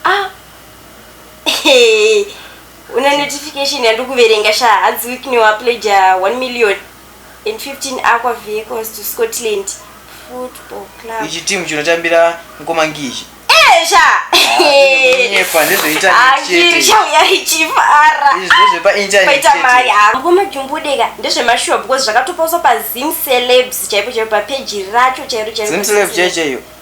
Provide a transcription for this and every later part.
Ah. Hey. Una notification yandikuverenga sha hadzi week new apleja 1 million and 15 aqua vehicles to Scotland football club. Ichi team chinotambira mkoma ngichi. Eh sha. Nyepa ndezvoita chete. Sha yari chifara. Izvo zvepa internet. Paita mari ha. Ah, mkoma jumbudeka ndezvemashuwa because zvakatopauswa pa Zim celebs chaipo chaipo pa page racho chairo chairo. Zim celebs chaicho.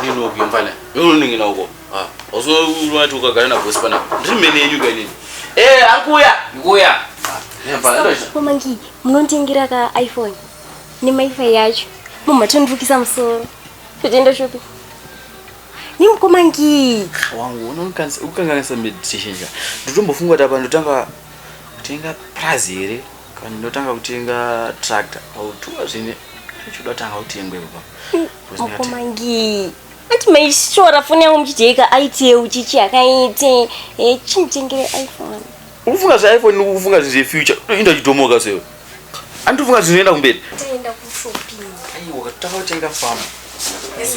ndinoki mfana unoningina uko ausoati ukagara nabosi pana ndiri mene yenyu kainini e akuya ndikuya mamangi munonditengera ka iphone nemaifi yacho mumatondivukisa musoro totienda shopi nimukomangi wangu unokanganisa meditation ja ndotombofunga kuti apa ndotanga kutenga prazi here Kani ndotanga kutenga tractor autuwa zvine zvichida kutanga kutengwa ipo papa. Mukoma ngii. Ati maishora foni yangu muchijeka aite uchichi akaite eh chimutengere iPhone. Ufunga zve iPhone ufunga zve future inda chitomoka sewe. Andifunga zvinoenda kumberi. Taenda ku shopping. Aiwa takatenga farm. Yes,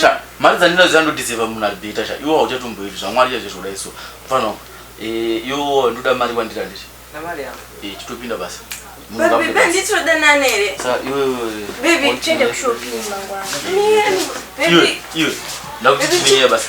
sha mari dzandinoziva ndodiseva munhu abhita sha iwo hauchatomboiti zvamwari chaizvo zvoda iso mfana wangu eh, yo ndoda mari wandira ndiri eh, chitopinda basa iwe ndakutiiye basa